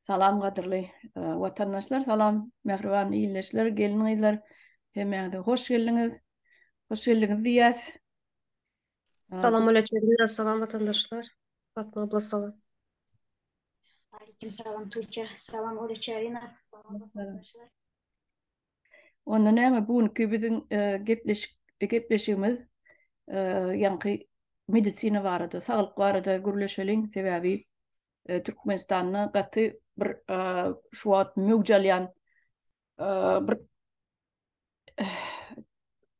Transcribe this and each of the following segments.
Salam gadyrly watandaşlar, salam mähriban ildeşler, gelin-gyzlar. Hemmäňize hoş geldiňiz. Hoş geldiňiz diýýäs. Salam aleyküm, salam watandaşlar. Fatma abla salam. Aleyküm salam Tuğçe. Salam Oreçerina. Salam arkadaşlar. Onda näme bu günki biziň gepleşik gepleşigimiz ýaňky medisina barada, saglyk barada gürleşeliň. Sebäbi Türkmenistanda gaty bir şu wagt möwç alýan bir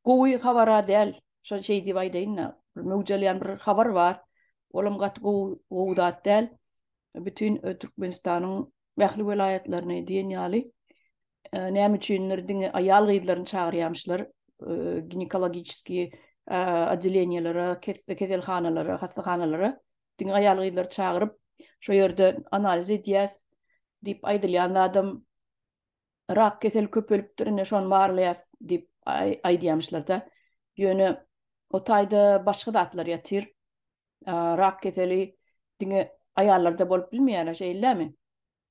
gowy habara däl, şol şeý diýip aýdaýyn-da, möwç alýan bir habar bar. Olam gaty gowy, gowy zat däl. bütin Türkmenistanyň ähli welaýatlaryny diýen ýaly näme üçindir diňe aýal-gyzlaryny çagyrýamyşlar ginekologiçeskiý oddeleniýelere, keselhanalara, hassahanalara diňe aýal-gyzlary çagyryp, şo ýerde analiz edýäs diýip aýdylýan zadam rak keseli köpelipdir, indi şony barlaýas diýip aýdýamyşlarda. Ýöne o taýda başga zatlar ýatyr. Rak keseli diňe aýallarda bolup bilmeýär, şeýlemi?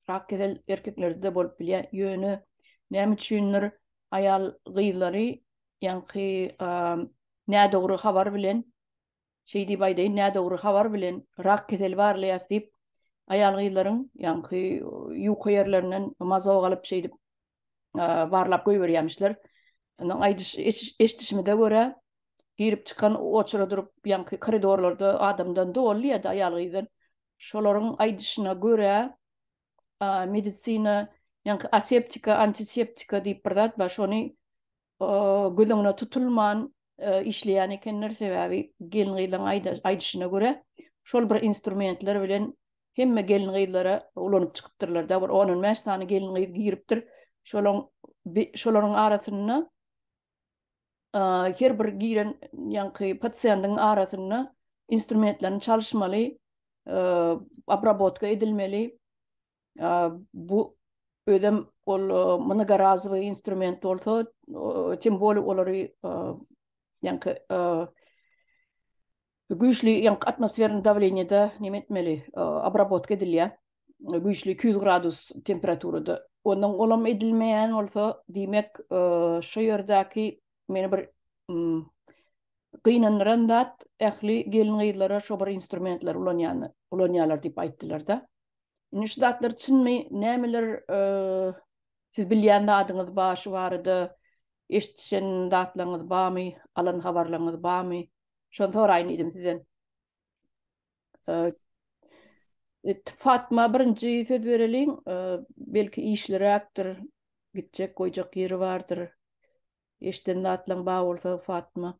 Rak kesel erkeklerde-de bolup bilýär. Ýöne näme üçindir aýal gyzlary ýaňky nädogry habar bilen Şeý diýip aýdaýyn, nädogry habar bilen rak keseli barlaýas diýip, aýal-gyzlaryň ýaňky ýuka ýerlerinden mazok alyp, şeýdip barlap goýberýämişler. Ondan aýdyş eşdişimize görä, girip-çykan oçura durup, ýaňky koridorlarda adamdan doly diýýärdi, aýal-gyzdan. Şolaryň aýdyşyna görä, medisina ýaňky aseptika, antiseptika diýip bir zat bar, şony göz öňüne tutulman işleýän ekenler, sebäbi gelin-gyzlaryň aýdyşyna görä, şol bir instrumentler bilen hemme gelin-gyzlara ulanyp çykypdyrlar-da, bir on-on bäş sany gelin-gyz giripdir. Şolaň şolaryň arasynda her bir giren ýaňky pasiýendiň arasynda instrumentlerini çalyşmaly, obrabotka edilmeli. bu özem ol mnogorazowy instrument bolsa, tim boli olary ýaňky güýçli ýaňky atmosferni dawleniýede näme etmeli, obrabotka edilýär. Güýçli iki ýüz gradus temperaturada. Ondan olam edilmeýän bolsa, diýmek, şu ýerdäki meni bir gynandyran zat, ähli gelin-gyzlara şu bir instrumentleri ulanýany, ulanýarlar diýip aýtdylar-da. Indi şu zatlar çynmy, nämeler siz bilýän zadyňyz bar şu barada, eşitişen zatlaryňyz barmy, alan habarlaryňyz barmy? Şony soraýyn diýdim sizden. E, Fatma birinji söz bereliň, e, belki işliräkdir, gitjek, goýjak ýeri bardyr. Eşden zatlaň bar bolsa Fatma.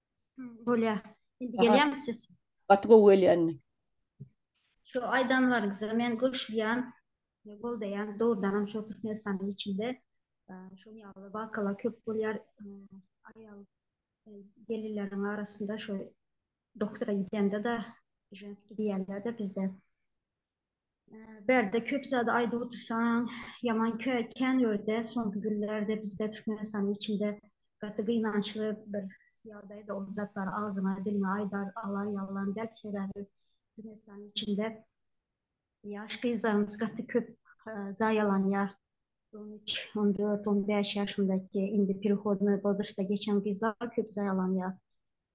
Bolýa. Indi gelýärmi ses? Gaty gowy gelýär indi. Şu aýdanlaryňyza men goşulýan, goldaýan. Dogrudan hem şu Türkmenistanyň içinde şuň ýaly wakalar köp bolýar. Aýal gelinleriň arasynda şu doktora gidende-de ženski diýýärler-de bizde. Bärde köp zady aýdyp otursaň, ýaman kän ýörde, soňky günlerde bizde Türkmenistanyň içinde gaty gynançly bir ýagdaýda ol zatlary agzyňa diliňe aýdar alar ýalam däl, sebäbi Türkmenistanyň içinde ýaş gyzlarymyz gaty köp zaýalanýar, on üç, on dört, on bäş ýaşyndaky indi perehodnoý wozrostda geçen gyzlar köp zaýalanýar.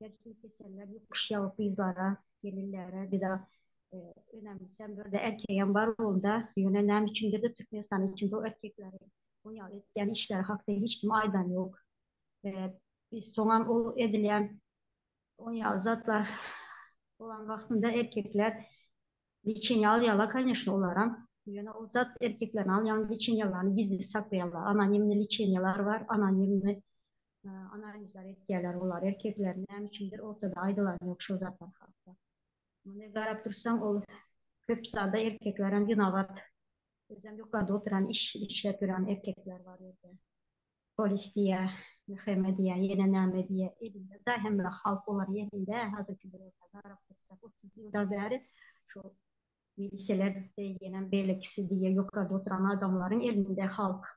Gerçi keseller ýokuş ýagyp gyzlara, gelinlere bir zat önemlisem bir de erkegem bar onda. Ýöne näme üçindir de Türkmenistanyň içinde o erkekleri bu ýaly etýän işleri hakda hiç kim aýdan ýok. Biz soňam ol edilýän o ýaly zatlar bolan wagtynda erkekler liçeni alýarlar kanyşna olaram. Ýöne ol zat erkeklerin alýan liçenýalaryny gizli saklaýarlar. Anonimni liçenýalar bar, anonimni Analizler etýärler olar erkekler näme üçindir ortada aýdylany ýok şol zatlar hakda. Muny garap dursaň ol köp zada erkekler hem winabat. Özem ýokarda oturan iş işlep ýören erkekler bar ýerde. Polis diýä, mhme diýä ýene näme diýä elinde da hemme halk olaryň elinde hazirki döwürde garap dursak otuz ýyldan bäri şu milisiýalar diýenem beýlekisi diýe ýokarda oturan adamlaryň elinde halk.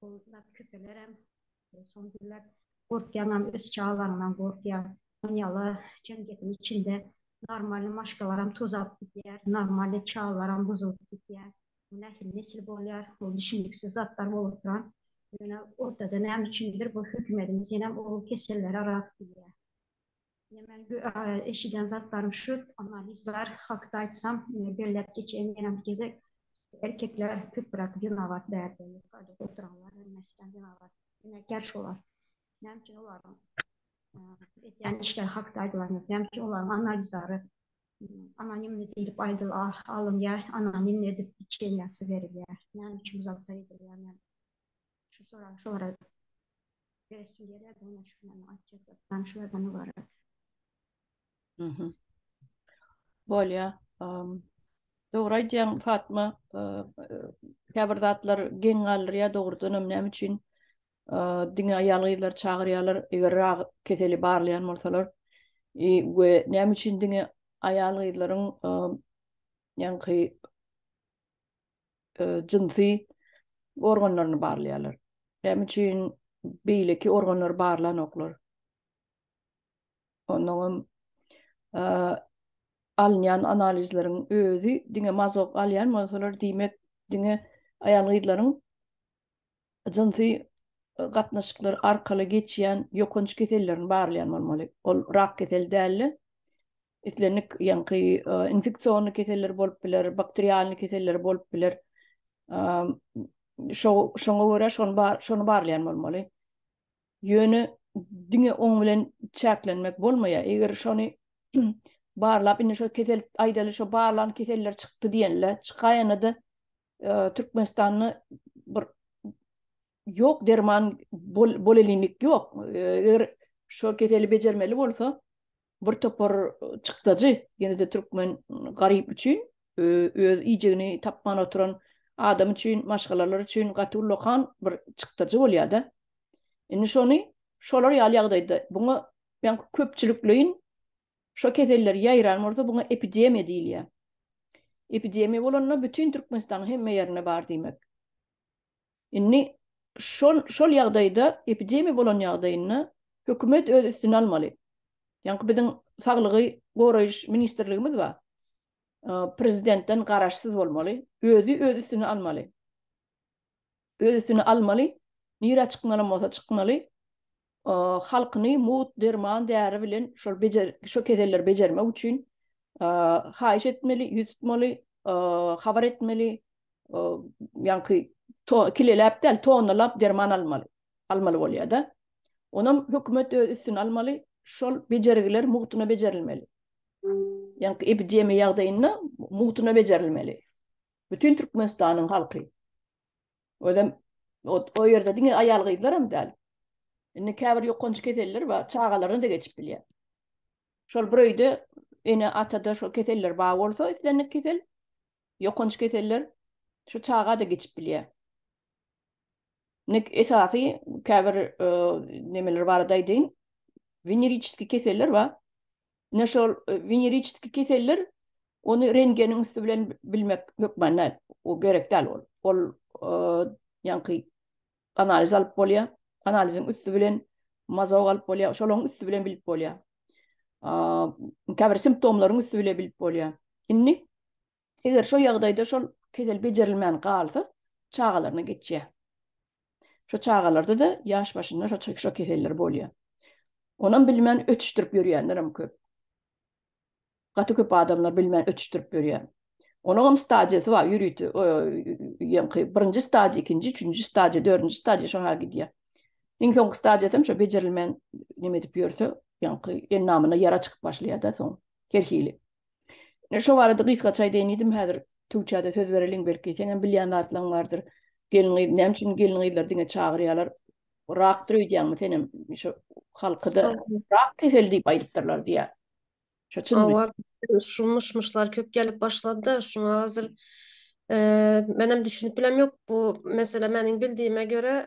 Ol zat köpelerem. Soň diýdiler, Gorkýaňam, öz çagalaryňdan gorkýaň. Dünýäde jemgyýetiň içinde normalny maşgalaram tozalyp gidýär, normalny çagalaram buzulyp gidýär. Bu nähili nesil bolýar? Bu düşüniksiz zatlar bolup oturan. Ýöne ortada näme üçindir bu hökümedimiz ýenem ogul kesellere rak gelýär. Ine men eşiden zatlarym şu, analizler hakda aýtsam, belläp geçeýin ýene bir gezek, erkekler köpräk zenabat bärde, ýokarda oturanlar hem meselem zenabat emekär şolar. Näme üçin olaryň edýän işleri hakda aýdylan ýok, näme üçin olaryň analizleri anonimni diýlip aýdylar, alynýar, anonimni edip içenýäsi berilýär, näme üçin bu zatlar edilýär, men Şu soragy sorag. Beresim gelýär, dogna şulardan aýtjak zatdan şulardan ybarat. Mhm. Bolýar. Dogry aýdýaň Fatma, käbir zatlar geň galdyrýar dogrudan hem näme üçin diňe aýal gyzlar çagyrýarlar eger rak keseli barlaýan bolsalar we näme üçin diňe aýal gyzlaryň ýaňky e, jynsy organlaryny barlaýarlar. Näme üçin beýleki organlary barlanoklar? Ondan hem e, alynýan analizleriň özi diňe mazok alýan bolsalar, diýmek, diňe aýal-gyzlaryň jynsy e, gatnaşyklar arkaly geçýän ýokanç kesellerini barlaýan bolmaly. Ol rak keseli däldi. islendik ýaňky infeksion keseller bolup biler, bakterialny keseller bolup biler. Şo şoňa görä şony bar şony barlaýan bolmaly. Ýöne diňe oň bilen çäklenmek bolmaýar. Eger şony barlap indi şo kesel aýdaly şo barlan keseller çykdy diýenler çykaýanda da Türkmenistanda bir ýok derman bolelimik ýok. Eger şo keseli bejermeli bolsa, bir topar çykdajy, ýene-de türkmen garyp üçin, öz iýjegini tapman oturan adam üçin, maşgalalar üçin gaty ullakan bir çykdajy bolýar-da. Indi şony şolar ýaly ýagdaýda buňa men köpçülikleýin şo keseller ýaýran bolsa buňa epidemiýa diýilýär. Epidemiýa bolanda bütin Türkmenistanyň hemme ýerinde bar diýmek. Indi şol şol ýagdaýda epidemiýa bolan ýagdaýynda hökümet öz üstüne almaly. Ýaňky biziň saglygy goraýyş ministrligimiz bar. Prezidentden garaşsyz bolmaly. Özi öz üstüne almaly. Öz üstüne almaly. Nirä çykmaly bolsa çykmaly. halkyny mugt derman däri bilen şol bejer şo keselleri bejermek üçin haýyş etmeli, ýüz tutmaly, habar etmeli, ýaňky kileläp däl, tonnalap derman almaly, almaly bolýar-da. Onam hökümet öz üstüne almaly, şol bejergiler mugtuna bejerilmeli. Ýaňky epidemiýa ýagdaýynda mugtuna bejerilmeli. Bütin Türkmenistanyň halky. Özem o ýerde diňe aýal gyzlar hem däl. Indi käbir ýokanç keseller bar, çagalaryna da geçip bilýär. Şol bir öýde ene atada şol keseller bar bolsa, islendik kesel, ýokanç keseller şu çaga da geçip bilýär. Nek esasy käbir e, nemeler barada aýdyň. Veneriçiski keseller bar. Ine şol weneriçeski keseller ony rengeniň üsti bilen bilmek hökman näl, o gerek däl ol. Ol ýaňky analiz alyp bolýar. Analiziň üsti bilen mazog alyp bolýar, şolaryň üsti bilen bilip bolýar. Käbir simptomlaryň üsti bilen bilip bolýar. Indi Eger şo ýagdaýda şol kesel bejerilmän galsa, çagalaryna geçýär. Şo çagalarda-da ýaş başyndan şo keseller bolýar. Onam bilmän ötüşdirip ýörýänlerem köp. Gaty köp adamlar bilmän ötüşdirip ýörýär. Onuňam stadiýasy bar, ýörite ýaňky birinji stadiýa, ikinji, üçünji stadiýa, dördünji stadiýa şoňa gidýär. Iň soňky stadiýasam şo bejerilmän neme edip ýörse, ýaňky endamyna ýara çykyp başlaýar-da soň her hili. Ine şo barada gysgaça aýdaýyn diýdim, häzir Tuwçada söz bereliň, belki seňem bilýän zatlaryň bardyr. Gelin-gyz, näme üçin gelin-gyzlary diňe çagyrýarlar? Rakdyr öýdýäňmi senem? Şo halkyda rak keseli diýip aýdypdyrlar diýýär. Şo çynmy? Hawa, şu myş-myşlar köp gelip başlady-da, şuňa hazir, eee, menem düşünip bilem ýok. Bu mesele meniň bildiýime görä,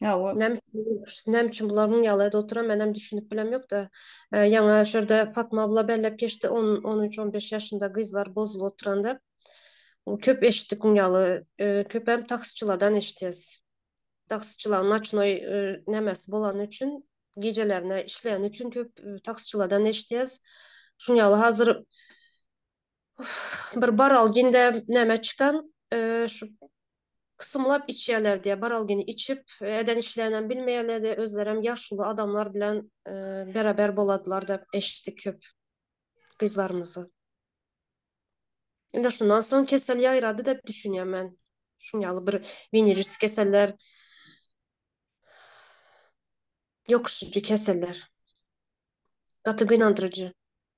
Hawa. Näme näme üçin bular muň ýaly edip oturan menem düşünip bilem ýokda. Ýaňa şurada Fatma abla belläp geçdi 10 13 15 ýaşynda gyzlar bozulyp oturan dep. Köp eşitdik muň ýaly. Köpem taksiçiladan eşitýäs. Taksiçilaň naçnoý nämesi bolany üçin gijelerine işleýäni üçin köp taksiçiladan eşitýäs. Şuň ýaly hazir bir baralginde näme çykan şu kysymlap içýärler diýe baralgini içip eden işlerini bilmeýärler diýe özlerem ýaşuly adamlar bilen beraber boladylar dep eşitdik köp gyzlarymyzy. Indi şundan soň kesel ýaýrady dep düşünýän men. Şun ýaly bir venerisk keseller ýokuşyjy keseller. Gaty gynandyryjy.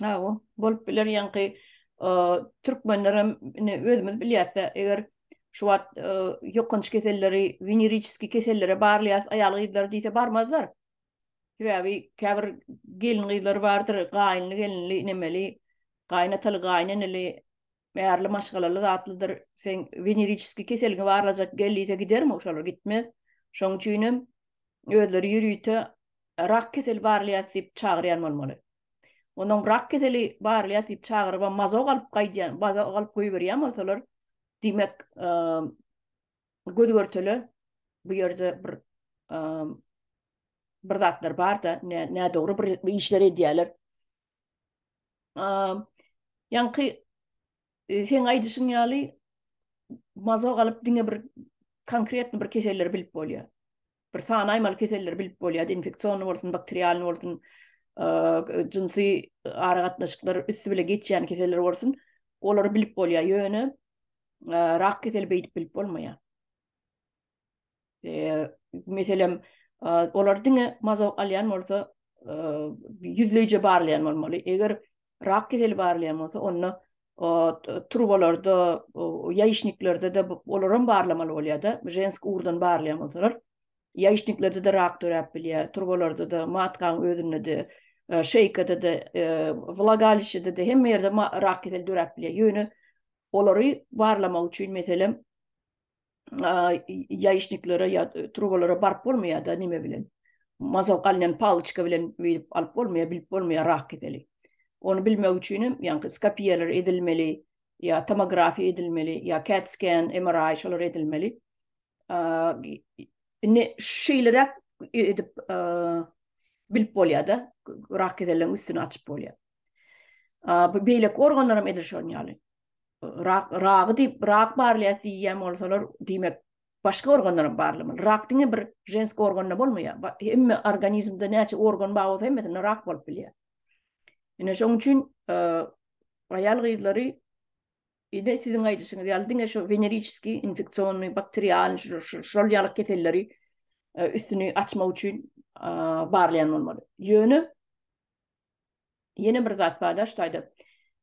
Hawa, bolup biler ýaňky türkmenler hem ine özümiz bilýäs-de, eger şu wagt ýokanç keselleri, weneriçeskiý kesellere barlaýas aýal-gyzlar diýse barmazlar. Sebäbi käbir gelin-gyzlar bardyr, gaýynly-gelinli, nemeli, gaýynataly, gaýyneneli, Märli maşgalaly zatlydyr. Sen weneriçiski keseliňi barlajak gel diýse gidermi? Şolar gitmez. Şoň üçinem özleri ýörite rak keseli barlaýas diýip çagyrýan bolmaly. Onuň rak keseli barlaýas diýip çagyryp, mazok alyp gaýdýan, mazok alyp goýberýän bolsalar, diýmek, göz-görtele bu ýerde bir bir zatlar bar-da, nädogry bir işler edýärler. Ýaňky e, seň aýdyşyň ýaly mazo galyp diňe bir konkretny bir keselleri bilip bolýar. Bir sany aýmaly keselleri bilip bolýar, infeksion bolsun, bakterialny bolsun, jynsy ara gatnaşyklar üstü bile geçýän keseller bolsun, olary bilip bolýar. Ýöne rak keseli beýdip bilip bolmaýar. meselem olar diňe mazok alýan bolsa ýüzleýje barlaýan bolmaly eger rak keseli barlaýan bolsa onda turbalarda ýaýyşniklerde de olar hem barlamaly bolýar da žensk urdan barlaýan bolsalar ýaýyşniklerde de rak döräp bilýär turbalarda da matkaň özünde de şeýkada da wlagaliçede de hemme ýerde rak keseli döräp bilýär ýöne olary barlamak üçin meselem ýaýyşniklere ýa trubalara baryp bolmaýar-da nime bilen. Mazok alnan paloçka bilen bilip alyp bolmaýar, bilip bolmaýar rak keseli. Ony bilmek üçin hem ýa skopiýalar edilmeli, ýa tomografiýa edilmeli, ýa CAT scan, MRI şolar edilmeli. Indi şeýleräk edip bilip bolýar-da, rak keseliniň üstüni açyp bolýar. Bu beýleki organlar hem edil şonuň ýaly. rak ragy diýip rak barlaýar diýýän bolsalar diýmek başga organlar hem barlamaly rak diňe bir jenski organda bolmaýar hemme organizmde näçe organ bar bolsa hemmesinde rak bolup bilýär ine şoň üçin e, aýal gyzlary ine siziň aýdyşyňyz ýaly diňe şu veneriçiski infeksionny bakterial şol ýaly keselleri e, üstüni açmak üçin e, barlaýan bolmaly ýöne Ýene bir zat bar da ştaýda.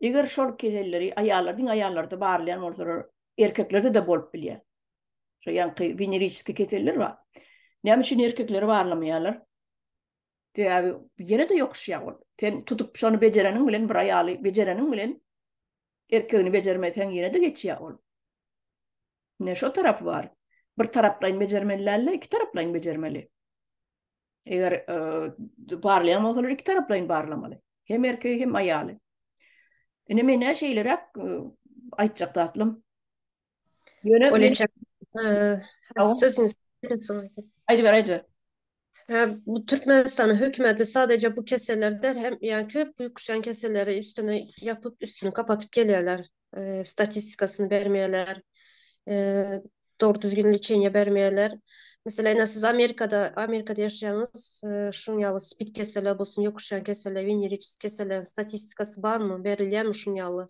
Eger şol keselleri aýallar diňe aýallarda barlaýan bolsalar, erkeklerde-de bolup bilýär. Şo ýaňky veneriskiý keseller bar. Näme üçin erkekleri barlamaýarlar? Sebäbi ýene-de ýokuşýar ol. Sen tutup şony bejereniň bilen bir aýaly bejereniň bilen erkegini bejermeseň ýene-de geçýär ol. Ine şo tarapy bar. Bir taraplaýyn bejermeli däl-de, iki taraplaýyn bejermeli. Eger barlaýan bolsalar iki taraplaýyn barlamaly. Hem erkegi hem aýaly. Ine men näçe ilerek aýtjak datlym. Ýöne Oleçak. Sözüňiz. Aýdyp ber, aýdyp ber. Ha, bu Türkmenistanyň hökümeti sadece bu kesellerde hem yani köp büyük kuşan keselleri üstüne yapıp üstünü kapatıp geliyorlar. statistikasyny bermeýärler, dogry düzgün liçeniýe bermeýärler. Meselem, ine siz Amerikada, Amerikada ýaşaýaňyz, şunuň ýaly spid keseli bolsun, ýokuş ýaly keseller, wenerikis keselleriň statistikasy barmy, berilýärmi şunuň ýaly?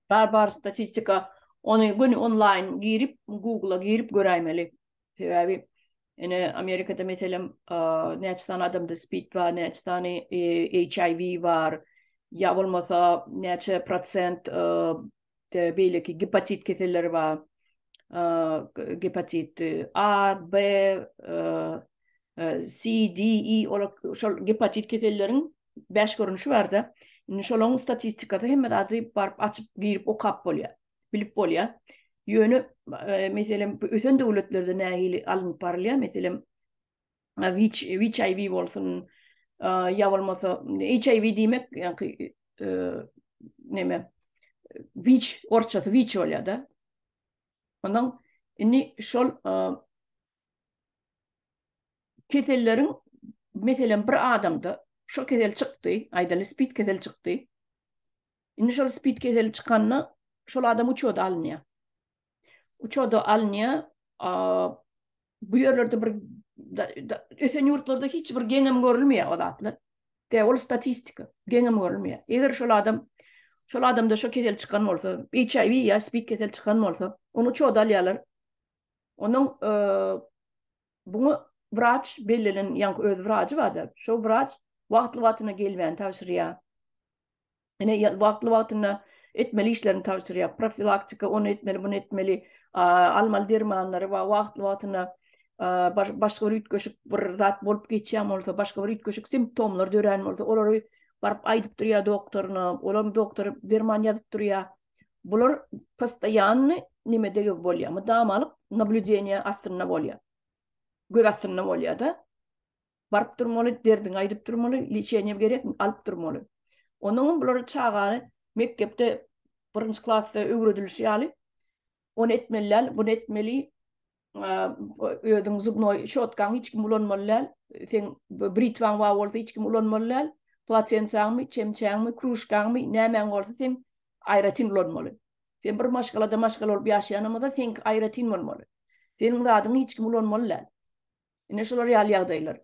Bar, bar statistika. Ony göni onlaýn girip, Google-a girip göräýmeli. Sebäbi ene Amerikada meselem näçe sany adamda spid bar, näçe sany HIV e, bar, ýa bolmasa näçe prosent beýleki gepatit keselleri bar. Gepatit A, B, C, D, E olar şol gepatit keselleriň 5 görnüşi barda. Indi şolaryň statistikasy hemme zady baryp açyp girip okap bolýar. bilip bolýar. Ýöne e, meselem ösen döwletlerde nähili alnyp barylýar? Meselem HIV bolsun, ýa bolmasa HIV diýmek, ýagny e, näme? Wiç, orçasy wiç bolýar-da. Ondan indi şol Keselleriň, meselem, bir adamda şo kesel çykdy, aýdaly, spid keseli çykdy. Indi şol spid keseli çykanda şol adam uçoda alynýar. Uçoda alynýar, bu ýerlerde bir ösen ýurtlarda hiç bir geňem görülmeýär o zatlar. De ol statistika, geňem görülmeýär. Eger şol adam şol adamda şo kesel çykan bolsa, HIV ýa spid keseli çykan bolsa, ony uçoda alýarlar. Onuň bunu wraç bellenen, ýaňky öz wrajy bar-da, şo wraç wagtly-wagtyna gelmäni tabşyrýar. Ine, wagtly-wagtyna etmeli işlerini tabşyrýar. Profilaktika, ony etmeli, bunu etmeli, almaly dermanlary we wagtly-wagtyna başga bir üýtgeşik bir zat bolup geçýän bolsa, başga bir üýtgeşik simptomlar dörän bolsa, olary baryp aýdyp durýar doktoryna. Olam doktor derman ýazyp durýar. Bular postoýanny nimedege bolýar, mydama alyp nablüdeniýe astynda bolýar. Göz astynda bolýar-da. Baryp durmaly, derdiňi aýdyp durmaly, liçeniýe gerek, alyp durmaly. Onuň bular çagany mekdepde birinji klasda öwredilişi ýaly, ony etmeli däl, buny etmeli, özüň zubnoý şotkaňy hiç kim ulanmaly däl, seň britwaň bar bolsa hiç kim ulanmaly däl, platensaňmy, çemçäňmi, kruşkaňmy, nämäň bolsa seň aýratyn ulanmaly. Sen bir maşgalada maşgala bolup ýaşaýanymyza seňki aýratyn bolmaly. Seniň zadyňy hiç kim ulanmaly däl. Ine şular ýaly ýagdaýlar.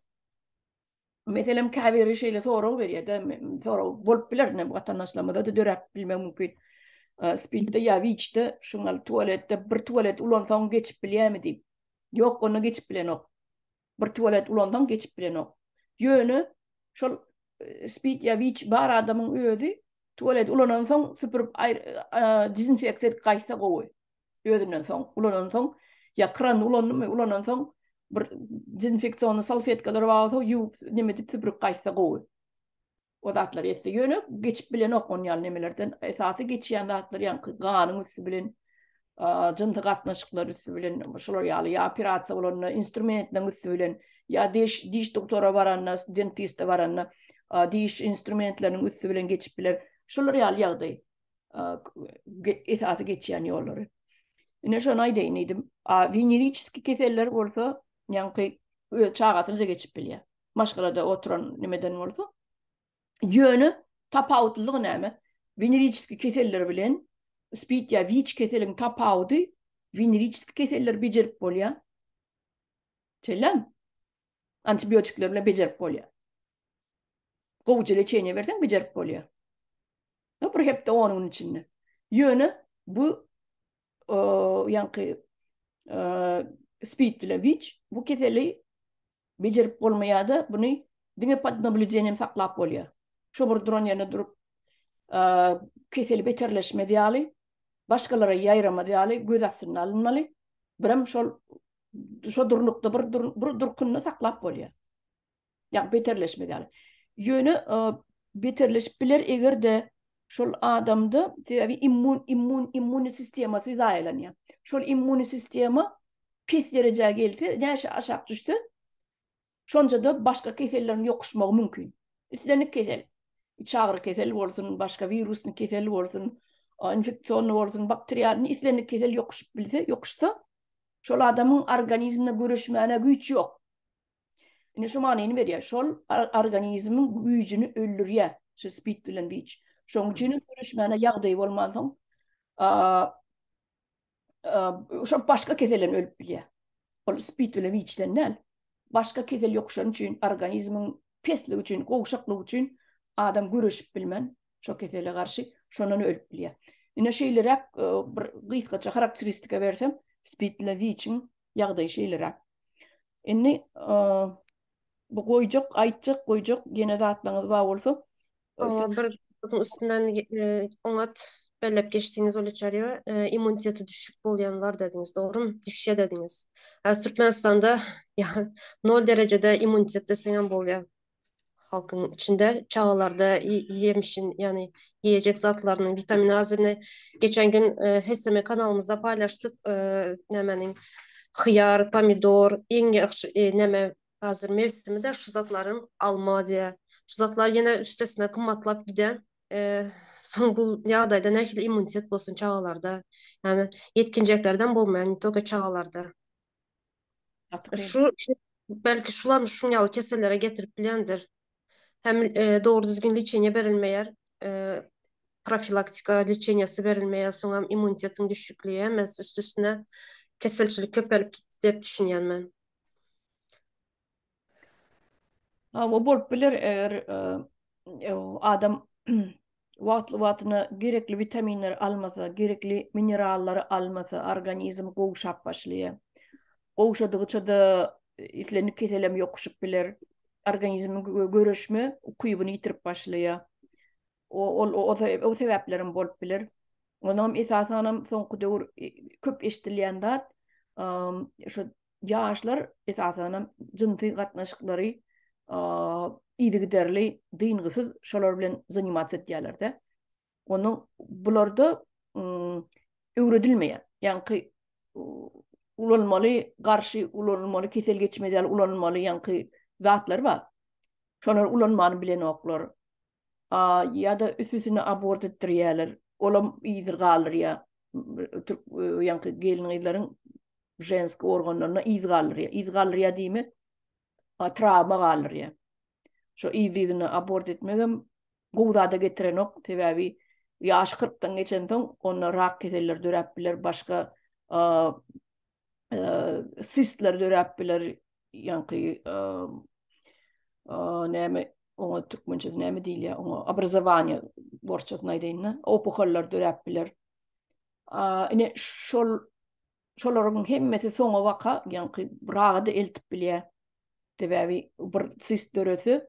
Meselem, käbiri şeýle sorag berýär-de, sorag bolup biler, ine, watandaşlarymyza-da döräp bilmegi mümkin. Spidde ýa WIC-de, şu gal tualetde bir tualet ulansaň geçip bilýärmi diýip. Ýok, onda geçip bilenok. Bir tualet ulansaň geçip bilenok. Ýöne şol spid ýa WIC bar adamyň özi tualet ulanansoň süpürip dezinfeksiýa edip gaýtsa gowy. Özünden soň, ulanan soň, ya kran ulandım mı, ulanan soň, bir dezinfeksionny salfetkalar var olsa, yuvup, nime dip süpürüp kaysa govu. O zatlar etse. Yöne geçip bilen ok on yan nemelerden. Esası geçiyen zatlar yan ganın üstü bilen, cıntı katnaşıklar üstü bilen, şular yalı, ya operasiya olanına, instrumentlerin üstü bilen, ya diş, diş doktora varanına, dentiste varanına, diş instrumentlerinin üstü bilen geçip bilen, şular yalı yağdı. esasy geçýän ýollary. Ine şony aýdaýyn diýdim. A veneriçiski keseller bolsa, ýaňky öz çagasyna da geçip bilýär. Maşgalada oturan nimeden bolsa. Ýöne tapawutlylygy näme? Veneriçiski keseller bilen spid ýa wiç keseliň tapawudy veneriçiski keseller bejerip bolýar. Çellem. Antibiotikler bilen bejerip bolýar. Gowuja leçeniýe berseň bejerip bolýar. Ýa bir hepde 10 gün içinde. Ýöne bu ýaňky spid bilen wiç bu keseli bejerip bolmaýar-da, buny diňe pod nablüdeniýem saklap bolýar. Şo bir duran ýerinde durup keseli beterleşmez ýaly, başgalara ýaýramaz ýaly göz astynda alynmaly. Birem şol şo durnukda bir dur, bir durkunny saklap bolýar. Ýa beterleşme ýaly. Ýöne e, beterleşip biler eger de şol adamda sebäbi immun immun immun sistemasy zaýalanýar. Şol immun sistema pis derejä gelse, näşe aşak düşse, Şonda-da başga keselleriň ýokuşmagy mümkin. Islendik kesel, içagyry kesel bolsun, başga wirusny kesel bolsun, infeksionny bolsun, bakterialny, islendik kesel ýokuşyp bilse, ýokuşsa, şol adamyň organizminde göreşmäne güýç ýok. Indi şu manyny berýär, şol organizmiň güýjüni öldürýär, şu spid bilen wic. Şonuň üçin hem göreşmäne ýagdaýy bolmansoň, şo başga keselden ölüp bilýär. Ol spid bilen wiçden näl. Başga kesel ýok şonuň üçin organizmiň pesligi üçin, gowşaklygy üçin adam göreşip bilmän şo kesele garşy şondan ölüp bilýär. Ine şeýleräk e, bir gysgaça karakteristika bersem, spid bilen wiçiň ýagdaýy şeýleräk. Indi e, bu goýjak, aýtjak, goýjak ýene zatlaryňyz bar bolsa, O bir otuň üstünden e, oňat belläp geçdiňiz ol içeriye e, immuniteti düşük bolýan bar dediňiz, dogrumy? Düşýär dediňiz. Häzir Türkmenistanda ýa- nol derejede immunitet deseňem bolýar. Halkyň içinde çagalarda i- ýemişin, ýagny ýeýjek zatlarynyň witamin azyny geçen gün e, HSM kanalymyzda paýlaşdyk. E, nämäniň hyýar, pomidor, iň ýagşy e, näme Hazir mewsimi-de şu zatlaryň alma diýýär. Şu zatlar ýene üstesine gymmatlap giden. Soň bu ýagdaýda nähili immunitet bolsun çagalarda? Ýani ýetginjeklerden bolmaýar, ne toke çagalarda. Şu belki şular şuň ýaly kesellere getirip bilýändir. Hem dogry düzgün liçeniýe berilmeýär. Profilaktika liçeniýesi berilmeýär. Soňam immunitetiň düşükligi hem üst-üstüne keselçilik köpelip gitdi diýip düşünýän men. Hawa bolup biler eger adam wagtly wagtyna gerekli witaminleri almasa, gerekli minerallary almasa organizm gowşap başlaýar. Gowşadygyça-da islendik keselem ýokuşyp biler. Organizmiň göreşme ukybyny ýitirip başlaýar. Ol o sebäplerem bolup biler. Onam esasanam soňky döwür köp eşdilýän zat şu ýaşlar esasanam jynsy gatnaşyklary yzygiderli dyngysyz şolar bilen zanimats edýärlerde. Onda bularda öwredilmeýär. Ýaňky ulanmaly garşy ulanylmaly kesel geçmez ýaly ulanylmaly ýaňky zatlar bar. Şolary ulanmany bilenoklar. a ýa-da üstüsini abort etdirýärler, olam yzy galdyrýar, türk ýaňky gelin-gyzlaryň ženski organlaryna yz galdyrýar, yz galdyrýar diýmek, trawma galdyrýar. Şo yz-yzyna abort etmegem gowy zada getirenok, sebäbi ýaşy kyrkdan geçensoň onda rak keselleri döräp biler, başga sistler döräp biler, ýaňky näme oňa türkmençe näme diýilýär, oňa obrazowaniýe borçatyny aýdaýyn-da, opuhallar döräp biler. Ine şol şolaryň hemmesi soňa waka, ýaňky raga da eltip bilýär. Sebäbi bir sist dörese,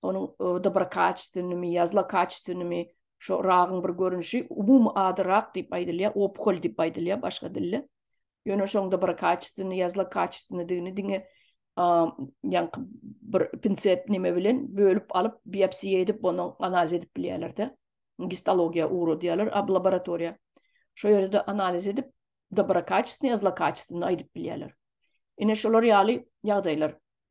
onuň dobrokachestvennymy ýa zlokachestvennymy şo ragyň bir görnüşi umumy ady rak diýip aýdylýar opkol diýip aýdylýar başga dilde ýöne şoň dobrokachestvenny ýa zlokachestvennydigini diňe ýaňky bir pincet neme bilen bölüp alyp biopsiýa edip ony analiz edip bilýärlerde gistologiýa ugradýarlar ab laboratoriýa şo ýerde analiz edip dobrokachestvenny ýa zlokachestvenny aýdyp bilýärler ine şolar ýaly ýagdaýlar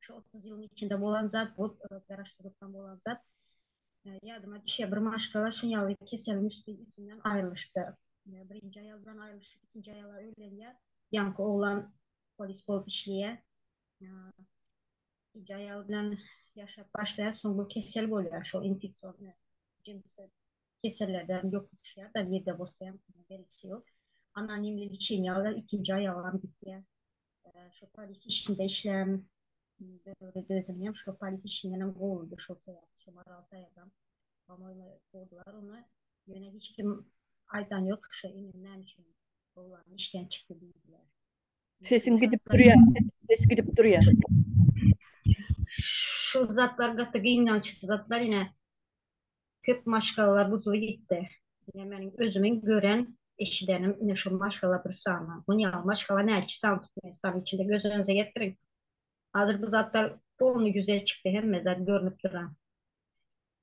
Şu 30 ýylyň içinde bolan zat bu, garaşsyzlykdan bolan zat. Ýadyma düşýär, bir maşgala şu ýaly keseliň üsti ýüzünden aýrylyşdy. Birinji aýal bilen aýrylyşyp, ikinji aýala öýlenýär. Ýaňky oglan polis bolup işleýär. Ikinji aýal bilen ýaşap başlaýar, soň bu kesel bolýar, şol infeksion jinsi kesellerden ýoka düşýär, da nirde bolsa hem belgisi ýok. Anonimli liçeniýa alýar, ikinji aýalam gidýär. Şu polis işinde işlem döwri dözüm hem şu polis işinden hem gowuldu şu sebäpli şu maral saýadam. Ama öyle gowdular onu. Yöne hiç kim aydan yok şu inen näme üçin gowulan işten çıktı diýdiler. Sesin gidip durýar. Ses gidip durýar. Şu zatlar gaty gynanç zatlar ine köp maşgalalar buzly gitdi. Ine meniň özümiň gören, eşidenim ine şu maşgala bir sany. Muny ýaly maşgala näçe sany Türkmenistanyň içinde göz öňüňize getiriň. Hazir bu zatlar polny ýüze çykdy hemme zat görnüp dura.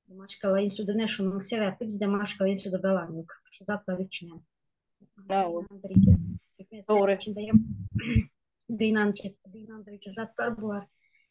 Bu maşgala instituty ine şunuň sebäpli bizde maşgala instituty galan ýok. Şu zatlar üçin hem. Türkmenistanyň içinde hem gynanjy, gynandyryjy zatlar bular.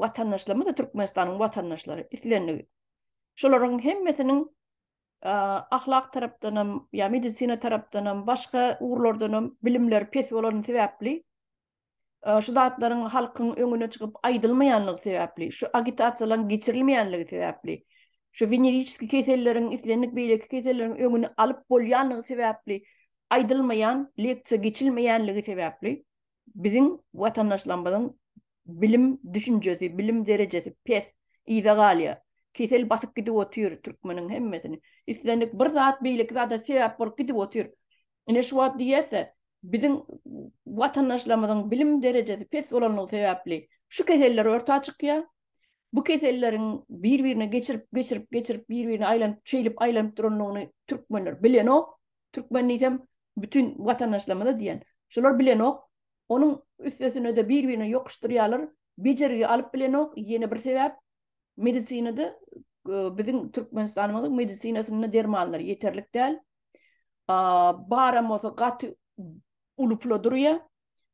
watandaşlarymyz-da Türkmenistanyň watandaşlary islendik. Şolaryň hemmesiniň ahlak tarapdanam, ýa medisina tarapdanam, başga ugurlardanam bilimleri pes bolany sebäpli, şu zatlaryň halkyň öňüne çykyp aýdylmaýanlygy sebäpli, şu agitasiýalaryň geçirilmeýänligi sebäpli, şu weneriçeski keselleriň, islendik beýleki keselleriň öňüni alyp bolýanlygy sebäpli aýdylmaýan, leksiýa geçilmeýänligi sebäpli, Biziň watandaşlarymyzyň bilim düşünjesi, bilim derejesi pes, yza galýar. Kesel basyp gidip otyr türkmeniň hemmesini. Islendik bir zat beýleki zada sebäp bolup gidip otyr. Ine şu wagt diýerse, biziň watandaşlarymyzyň bilim derejesi pes bolanlygy sebäpli şu keseller orta çykýar. Bu keselleriň bir-birine geçirip, geçirip, geçirip bir-birine aýlanyp, şeýlip aýlanyp duranlygyny türkmenler bilenok. Türkmen diýsem, bütin watandaşlarymyza diýen. Şular bilenok. Onuň üstesine-de bir-birine ýokuşdyrýarlar. Bejergi alyp bilenok. Ýene bir sebäp, medisinada biziň Türkmenistanymyzyň medisinasynda dermanlar ýeterlik däl. Baram bolsa gaty uly pula durýar.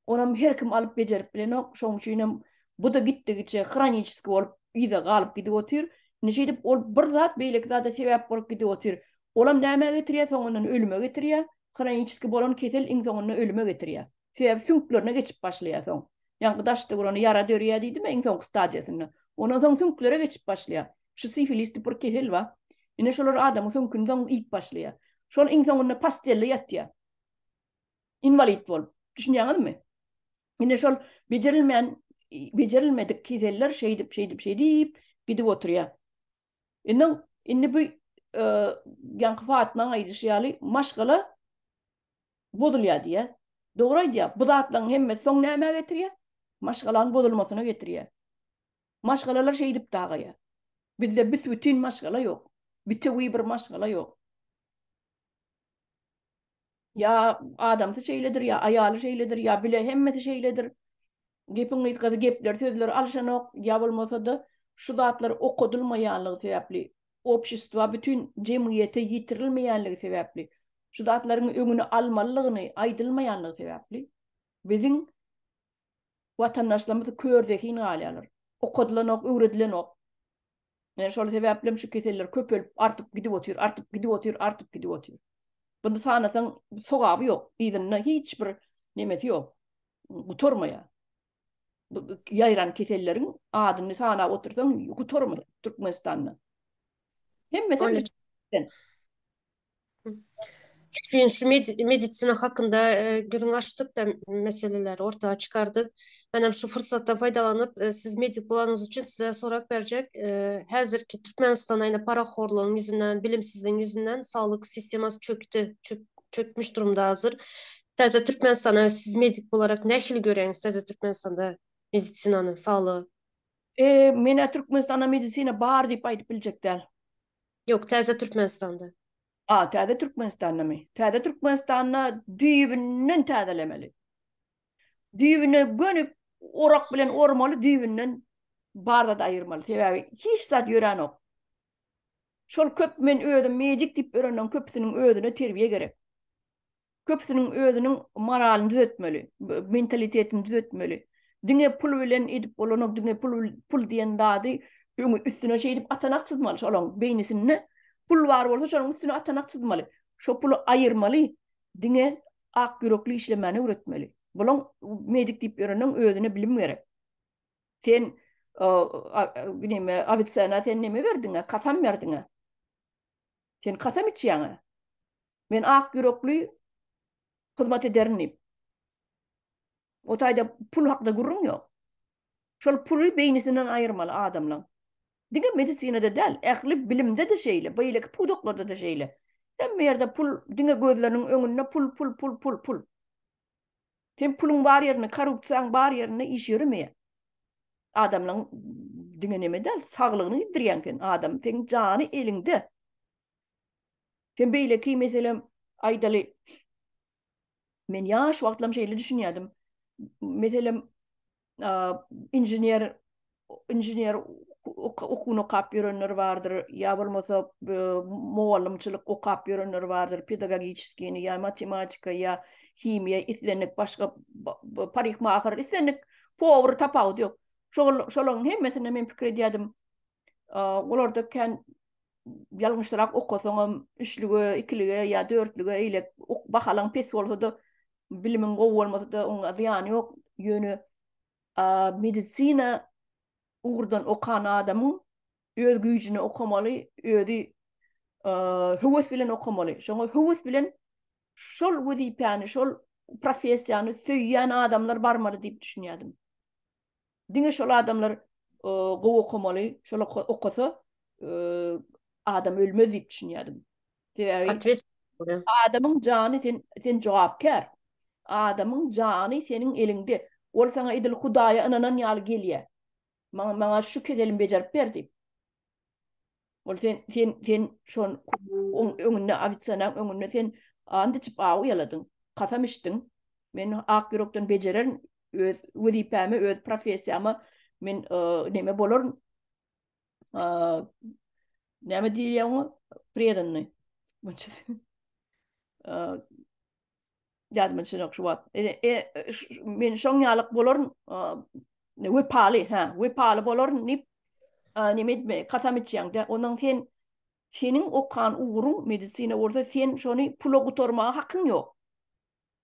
Onam her kim alyp bejerip bilenok, şoň üçinem bu-da gitdigiçe hroniçeski bolup yza galyp gidip otyr. Indi şeýdip ol bir zat beýleki zada sebäp bolup gidip otyr. Olam nämä getirýär, soňundan ölüme getirýär. Hroniçeski bolan kesel iň soňunda ölüme getirýär. Sebäbi süňklerine geçip başlaýar soň. Ýaňky daşda bolanda ýara dörýär diýdimä iň soňky stadiýasynda. Ondan soň süňklere geçip başlaýar. Şu sifilis diýip bir kesel bar. Ine şolar adamyň süňküni soň iýip başlaýar. Şol iň soňunda postelde ýatýar. inwalid bolup. Düşünýäňizmi? Ine şol bejerilmän bejerilmedik keseller şeýdip şeýdip şeýdip gidip oturýar. Indi indi bu ýaňky Fatmaň aýdyşy ýaly maşgala bozulýar diýýär. Dogry aýdýar. Bu zatlaryň hemmesi soň nämä getirýär? Maşgalaň bozulmasyna getirýär. Maşgalalar şeýdip dagaýar. Bizde büs-bütin maşgala ýok. Bütewi bir maşgala ýok. Ýa adamsy şeýledir, ýa aýaly şeýledir, ýa bile hemmesi şeýledir. Gepiň gysgasy gepler, sözler alşanok, ýa bolmasa-da şu zatlar okadylmaýanlygy sebäpli, obşestwa, bütin jemgyýete ýetirilmeýänligi sebäpli, şu zatlaryň öňüni almalydygyny aýdylmaýanlygy sebäpli biziň watandaşlarymyz kör zehin galýarlar. Okadylanok, öwredilenok. Yani şol sebäplem şu keseller köpelip, artyp gidip otyr, artyp gidip otyr, artyp gidip otyr. Bunu sanasaň sogaby yok. Yzynda hiç bir nemesi yok. Gutormaya. Yayran kesellerin adını sana otursan gutormaya Türkmenistan'da. Hem mesela Üçünji medisina hakynda gürrüň açdykda meseleleri orta çykardyk. Men hem şu pursatdan peýdalanyp, siz medik bolanyňyz üçin size sorap berjek. Häzirki Türkmenistan aýna parahorlugyň ýüzünden, bilimsizligiň ýüzünden saglyk sistemasy çökdi, çökmüş durumda hazir. Täze Türkmenistany siz medik bolarek nähili göreňiz? Täze Türkmenistanda medisinany, saglygy? Menä Türkmenistanda medisina bar diýip aýdyp biljek däl. Ýok, täze Türkmenistanda. A, täze Türkmenistandamy? Täze Türkmenistanda düýbünden täzelemeli. Düýbüne gönüp, orak bilen ormaly düýbünden bar zat aýyrmaly. Sebäbi hiç zat ýöränok. Şol köp men özüm mejik diýip ýörenden köpüsiniň özüne terbiýe gerek. Köpüsiniň özüniň moralyny düzetmeli, mentalitetini düzetmeli. Diňe pul bilen edip bolanok, diňe pul pul diýen zady öňe üstüne şeýdip atanak çyzmaly şolaň beýnisinde. Pul bar bolsa şonuň üstüne atanak çyzmaly. Şo puly aýyrmaly, diňe ak ýürekli işlemäni öwretmeli. Bulaň medik diýip ýörenleň özüne bilim gerek. Sen neme Avicenna sen neme berdiňä, kasam berdiňä. Sen kasam içýäň-ä. Men ak ýürekli hyzmat ederin diýip. O taýda pul hakda gürrüň ýok. Şol puly beýnisinden aýyrmaly adamlaň. Diňe medisinada däl, ähli bilimde-de şeýle, beýleki pudaklarda-da şeýle. Hemme ýerde pul, diňe gözleriniň öňünde pul, pul, pul, pul, pul. Sen puluň bar ýerinde, korrupsiýaň bar ýerinde iş ýöremeýär. Adamlaň diňe neme däl, saglygyny gitdirýäň sen. Adam seň jany eliňde. Sen beýleki meselem aýdaly. Men ýaş wagtlam şeýle düşünýärdim. Meselem inžener inžener okuwyny okap ýörenler bardyr, ýa bolmasa mugallymçylyk okap ýörenler bardyr, pedagogiçiskini ýa matematika ýa himiýa islendik başga parikmaher islendik powar tapawudy ýok. Şol şolaryň hemmesinde men pikir edýärdim, Olarda kän ýalňyşrak okasaňam, üçlüge, ikilige ýa dörtlüge eýle bahalaň pes bolsa-da, bilimiň gowy bolmasa-da, onuň zyýany ýok. Ýöne medisina ugurdan okan adamyň öz güýjüne okamaly, özi höwes bilen okamaly. Şoňa höwes bilen şol wezipäni, şol professiýany söýýän adamlar barmaly diýip düşünýärdim. Diňe şol adamlar gowy okamaly, şol okasa adam ölmez diýip düşünýärdim. Sebäbi adamyň jany sen sen jogapkär. Adamyň jany seniň eliňde. Ol sana edil Hudaýa ynanan ýaly gelýär. Maňa maňa şu kezelim bejerip ber diýip. Ol sen sen sen şol kubugyň öňünde ofitsiantyň öňünde sen and içip aw ýaladyň, kasam içdiň. Men ak ýürekden bejererin öz wezipämi, öz professiýamy men e, näme bolaryn? E, näme diýilýär oňa? Predanny. E, Ýadyma düşenok şu wagt. E, e, men şoň ýalyk bolaryn, wepaly, hä, wepaly bolaryn diýip, näme etme, kasam içýäňde, onuň sen seniň okan ugruň medisina bolsa, sen şony pula gutarmaga hakyň ýok.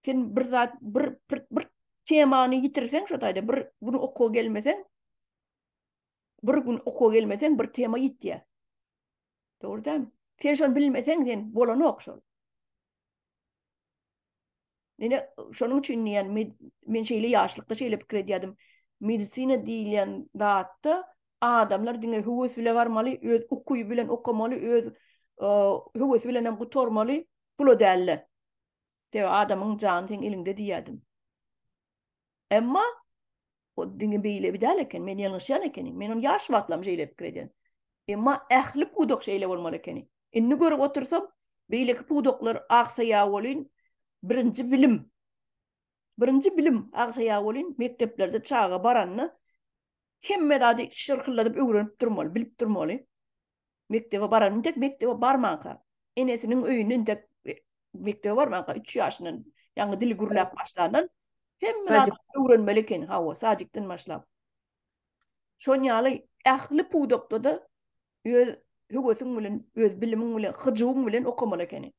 Sen bir zat, bir, bir, bir temany ýitirseň, şo taýda bir gün okuwa gelmeseň, bir gün okuwa gelmeseň, bir tema ýitýär. Dogry dämi? Sen şony bilmeseň, sen bolanok şol. Ine, şonuň üçin diýen, men şeýle ýaşlykda şeýle pikir edýärdim. Medisina diýilýän zatda adamlar diňe höwes bilen barmaly, öz uky bilen okamaly, öz höwes bilen hem gutarmaly, pula dälde. Sebäbi adamyň jany seň eliňde diýýärdim. Emma o diňe beýle bir däl eken, men ýalňyşýan ekenim. Men ony ýaş wagtlam şeýle pikir edýän. Emma ähli pudak şeýle bolmaly ekeni. Indi görüp otursam, beýleki pudaklar agsaýa welin, birinji bilim, birinji bilim agsaýa welin, mekdeplerde çaga baranda hemme zady şyrkyldadyp öwrenip durmaly, bilip durmaly. Mekdebe baran, intek mekdebe barmanka, enesiniň öýünde intek mekdebe barmanka, üç ýaşyndan ýaňy dili gürläp başlandan, hemme zady öwrenmeli eken, hawa, sadikden başlap. Şonuň ýaly ähli pudakda-da öz höwesiň bilen, öz bilimiň bilen, hyjuwyň bilen okamaly ekeniň.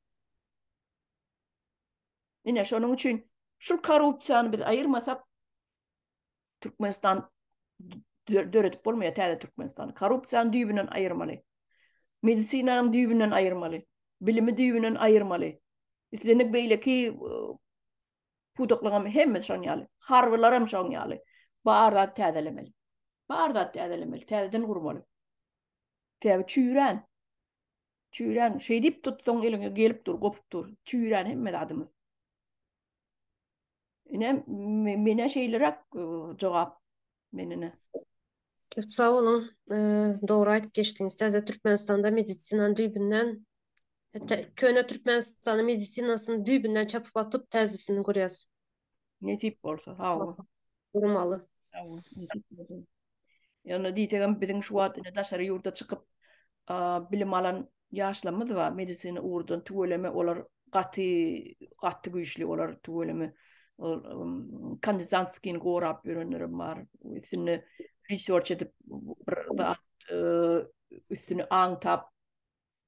Ine, şonuň üçin şu korrupsiýany biz aýyrmasak, Türkmenistan döredip bolmaýar täze Türkmenistan. Korrupsiýany düýbünden aýyrmaly. Medisinanyň düýbünden aýyrmaly. Bilimi düýbünden aýyrmaly. Islendik beýleki pudaklaryň hemme şoň ýaly. Harbylar hem şoň ýaly. Bar zat täzelemeli. Bar zat täzelemeli, täzeden gurmaly. Täze çüýrän. Çüýrän, şeýdip tutsaň eliňe gelip dur, gopup dur. Çüýrän hemme zadymyz. Ine, mene şeýleräk jogap menine. Köp sag boluň. Dogry aýdyp geçdiňiz. Täze Türkmenistanda medisinanyň düýbünden Hatta köne Türkmenistanyň medisinasyny düýbünden çapyp atyp täzesini gurýas. Nesip bolsa, sag bol. Gurmaly. Sag bol. Ýöne diýsegem biziň şu wagt indi daşary ýurda çykyp bilim alan ýaşlarymyz bar. Medisina ugurdan tüweleme olar gaty gaty güýçli olar tüweleme kandidantskiýini gorap ýörenlerim bar. Üstünde research edip bir üstüni aňtap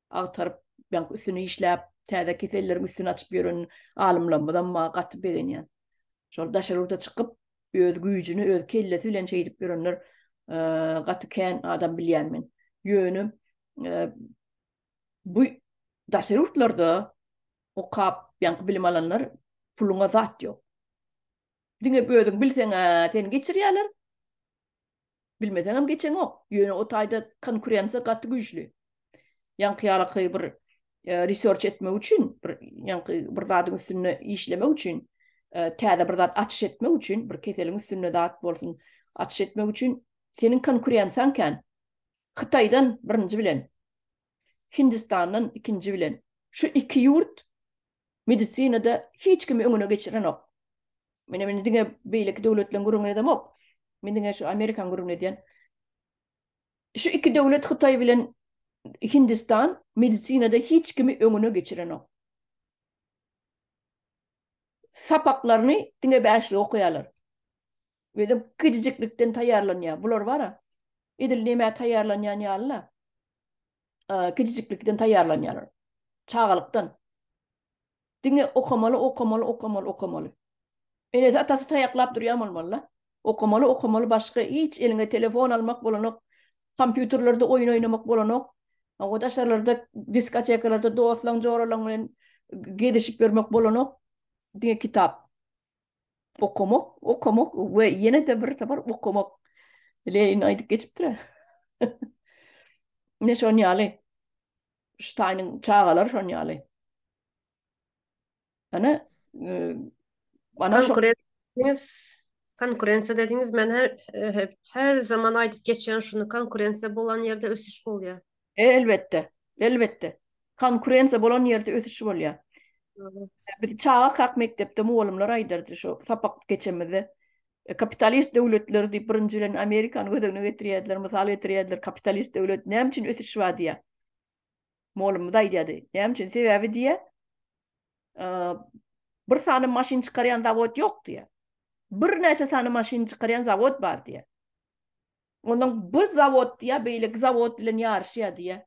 agtaryp, ýaňky üstüni işläp, täze keselleriň üstüni açyp ýören alymlarymyzam maňa gaty begenýär. Şol daşary ýurda çykyp, öz güýjüni, öz kellesi bilen şeýdip ýörenler gaty kän adam bilýän men. Ýöne bu daşary ýurtlarda okap, ýaňky bilim alanlar puluňa zat ýok. Diňe özüň bilseň-ä seni geçirýärler. Bilmeseňem geçeňok. Ýöne o taýda konkurensiýa gaty güýçli. Ýaňky ýaly bir research etmek üçin, bir ýaňky bir zadyň üstünde işlemek üçin, täze bir zat açyş etmek üçin, bir keseliň üstünde zat bolsun, açyş etmek üçin seniň konkurensiýaň kän. Hytaýdan birinji bilen Hindistandan ikinji bilen. Şu iki ýurt medisinada hiç kimi öňüne geçirenok. Meni meni diňe beýleki döwletleriň gürrüňini edemok. Men diňe şu Amerikan gürrüňini edýän. Şu iki döwlet Hytaý bilen Hindistan medisinada hiç kimi öňüne geçirenok. Sapaklaryny diňe bäşlik okaýarlar. Özem kiçijiklikden taýýarlanýar. Bular bar-a, edil nämä taýýarlanýan ýaly-la. Kiçijiklikden taýýarlanýarlar. Çagalykdan. Diňe okamaly, okamaly, okamaly, okamaly. Enesi, atasy taýaklap durýan bolmaly-la. Okamaly, okamaly, başga hiç eliňe telefon almak bolanok, kompýuterlerde oýun oýnamak bolanok. O daşarlarda, diskotekalarda dostlaň-joralaň bilen gezişip ýörmek bolanok. Diňe kitap. Okamak, okamak we ýene-de bir sapar okamak. Lenin aýdyp geçipdir. Ne şon ýaly. Ştaýnyň çagalar şon ýaly. Ana, ana şo konkurensiýa dediňiz, men her zaman aýdyp geçýän şuny, konkurensiýa bolan ýerde ösüş bolýar. E, elbetde, elbetde. Konkurensiýa bolan ýerde ösüş bolýar. Biz çaga kak mekdepde mugallymlar aýdardy şu sapak geçemizde. E, kapitalist döwletleri diýip birinji bilen Amerikany göz öňüne getirýärdiler, mysal getirýärdiler. Kapitalist döwlet näme üçin ösüş bar diýýär. Mugallymymyz aýdýardy. Näme üçin? Sebäbi diýýär, e, bir sany maşyn çykarýan zawod ýok diýýär. Birnäçe sany maşyn çykarýan zawod bar diýýär. Onuň bu zawod diýýär, beýleki zawod bilen ýaryşýar diýýär.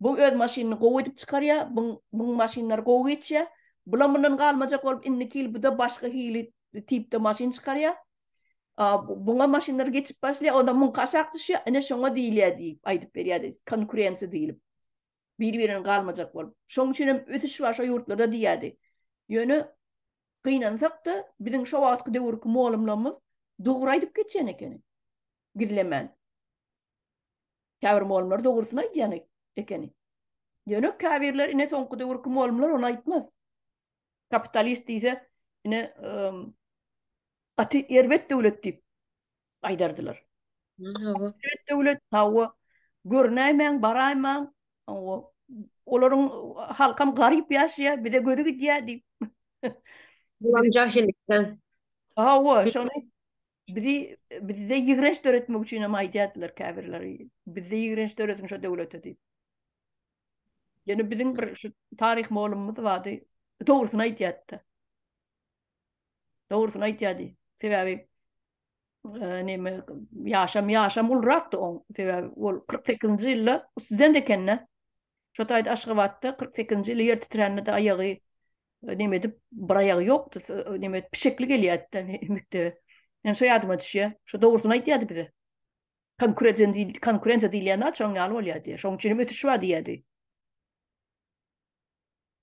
Bu öz maşynyny gowy edip çykarýar, buň buň maşynlary gowy geçýär. Bulam mundan galmajak bolup, indiki ýyl bu-da başga hili tipde maşyn çykarýar. A, buňa maşynlar geçip başlaýar, ondan muňky aşak düşýär, ine şoňa diýilýär diýip aýdyp berýärdi, konkurensiýa diýlip. bir-birine galmajak bolup. Şoň üçin hem ösüş başga ýurtlarda diýýärdi. Ýöne gynansak-da, biziň şo wagtky döwürki mugallymlarymyz dogry aýdyp geçýän ekeni. Gizlemän. Käbir mugallymlar dogrusyny aýdýan ekeni. Ýöne käbirler ine soňky döwürki mugallymlar ony aýtmaz. Kapitalist diýse, ine gaty erbet döwlet diýip gaýdardylar. Hawa. Döwlet döwlet hawa. Görnäýmäň, baraýmaň. Hawa. Olaryň halkam garyp ýaşaýar, bize gözi gidýär diýip. Bulam jahillikden. Hawa, şony bizi bizde ýigrenç döretmek üçin hem aýdýardylar käbirleri. Bizde ýigrenç dörediň şo döwlete diýip. Ýöne biziň bir şu taryh molumymyz bardy. Dogrusyny aýdýardy. Dogrusyny aýtýardy. Sebäbi neme ýaşam ýaşam ulrakdy on sebäbi ol 48-nji ýylda student ekende şo taýda Aşgabatda 48-nji ýyly ýer titrände de aýagy e, neme edip bir aýagy ýokdy e, neme pişekli gelýärdi mekdebe ýani şo ýadyma düşýär şo dogrusyny aýdýardy bize konkurensiýa diýildi konkurensiýa diýilýän zat şoň ýaly bolýar diýýär şoň üçin ösüş bar diýýärdi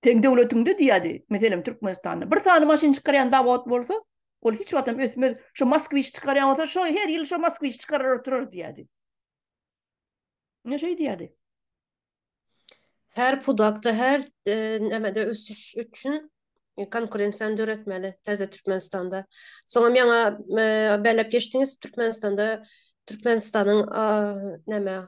Seň döwletiňde diýýärdi, meselem Türkmenistanda bir sany maşyn çykarýan zawod bolsa, ol hiç wagtam ösmez, şo Moskwiç çykarýan bolsa, şo her ýyl şo Moskwiç çykarar oturar diýýärdi. Ine şeý diýýärdi. Her pudakda, her nämede ösüş üçin konkurensiýany döretmeli täze Türkmenistanda. Soňam ýaňa belläp geçdiňiz, Türkmenistanda Türkmenistanyň näme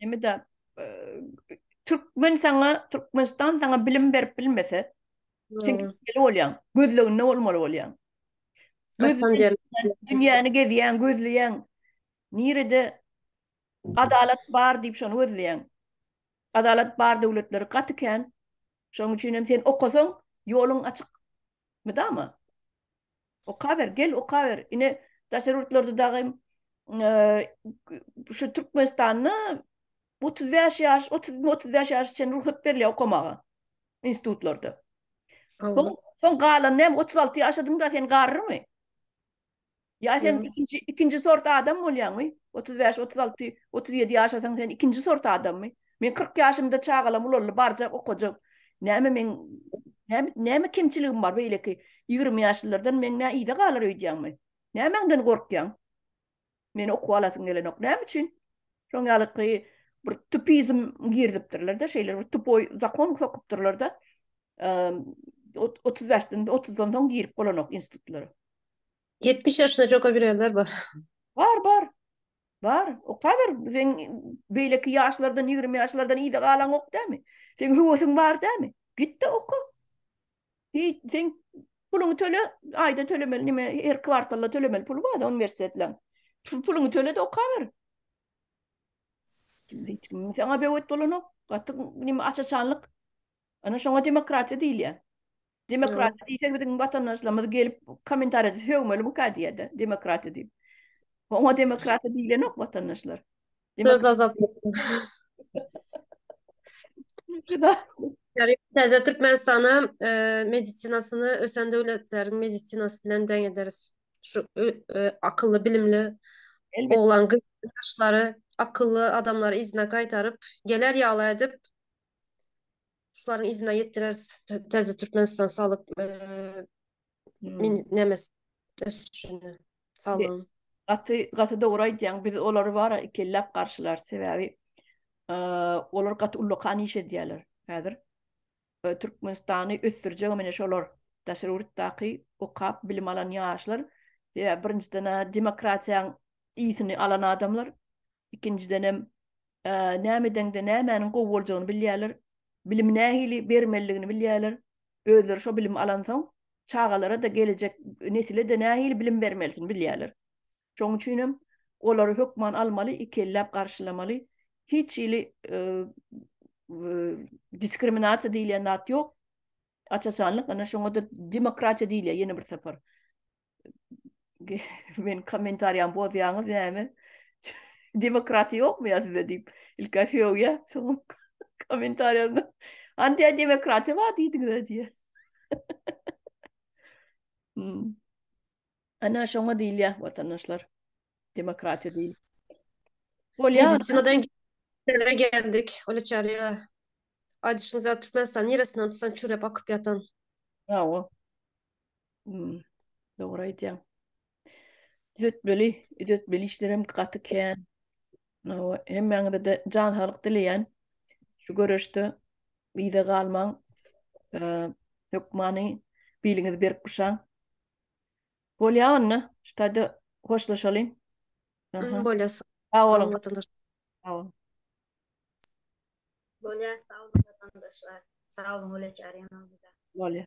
Näme-de, türkmen saňa, Türkmenistan saňa bilim berip bilmese, sen gitmeli bolýaň, gözleginde bolmaly bolýaň. Dünýäni gezýäň, gözleýäň. Nirede adalat bar diýip şony gözleýäň. Adalat bar döwletleri gaty kän. Şonuň üçin hem sen okasaň, ýoluň açyk. Mydama. Okaber, gel okaber. Ine daşary ýurtlarda dagy şu Türkmenistanda 35 ýaş, 30-35 ýaş çen rugsat berilýär okamaga institutlarda. Soň soň galan näme 36 ýaşadyň da sen garrymy? Ýa sen ikinji ikinji sort adam bolýaňmy? 35, 36, 37 ýaşasaň sen ikinji sort adammy? Men kyrk ýaşymda çagalam ulaldy, barjak, okajak. Näme meň näme näme kemçiligim bar beýleki ýigrimi ýaşlylardan meň nä yza galar öýdýäňmi? Nämäňden gorkýaň? Meni okuw alasyň gelenok. Näme üçin? Şoň ýalyky bir tupizm girdipdirler-de, şeýle bir tupoý zakon sokupdyrlar-da. Otuz bäşden, otuzdan soň girip bolanok institutlara. Ýetmiş ýaşda jogabilenler bar. Bar, bar. Bar, okaber, sen beýleki ýaşlardan, ýigrimi ýaşlardan ýygy galaňok dämi? Sen höwesiň bar dämi? Git-de oka. Hiç, sen puluňy töle, aýda tölemeli, nime, her kwartalda tölemeli puly bar-da uniwersitetleriň. Puluňy töle-de okaber. Hiç kim saňa böwet bolanok. Gaty, nime, aç-açanlyk Ana şoňa demokratiýa diýilýär. Demokratiýa diýsek biziň watandaşlarymyz gelip kommentariýada sögmeli bu kädiýede demokratiýa diýip. Oňa demokratiýa diýilenok watandaşlar. Söz azatlyk. Täze Türkmenistana medisinasyny ösen döwletleriň medisinasy bilen deň ederis. Şu akylly, bilimli oglan gyzlary, akylly adamlary yzyna gaýtaryp, geler ýaly edip, Şularyň yzyna ýetireris. Täze Türkmenistan saglyk hmm. nemes ösüşini saglygyň. Gaty gaty dogry aýdýaň. Biz olary bar ikilläp garşylar sebäbi olar gaty ullakan iş edýärler häzir. Türkmenistany ösdürjek meni şolar daşary ýurtdaky okap bilim alan ýaşlar sebäbi birinjiden demokratiýanyň ýitini alan adamlar ikinjiden hem näme edeňde nämäniň gowy boljagyny bilýärler, bilimi nähili bermeliligini bilýärler, özleri şo bilimi alansoň, çagalara-da, gelejek nesile-de nähili bilim bermelisin bilýärler. Şoň üçin hem olary hökman almaly, iki elläp garşylamaly. Hiç hili diskriminasiýa diýilýän zat ýok. Aç-açanlyk, ine şoňa-da demokratiýa diýilýär ýene bir sapar. men kommentariýam bozýaňyz näme? Demokratiýa ýokmy ýa sizde diýip, ilki söýýä, soň kommentariýasyna Andiýa demokratiýa bar diýdiňiz diýýä. Hmm. Ana şoňa diýilýär watandaşlar. Demokratiýa diýil. Bolýar. Medisinada Nereye geldik? Öyle çağırıyor. Adışınıza Türkmenistan neresinden tutsan çürep akıp yatan. Bravo. Hmm, dogry aýdýaň. Düzetmeli, düzetmeli işlerem gaty kän. Nawa, hemmäňize-de jan saglyk dileýän. Şu göreşde yza galmaň. Eee, hökmany biliňizi berip guşaň. Bolýa onda, şu taýda hoşlaşalyň. Aha. Bolýasy. Sag Sag boluň. bol, watandaş. Sag boluň. Bolýa sag boluň watandaşlar. Sag boluň Güleç Arena bize. Bolýa.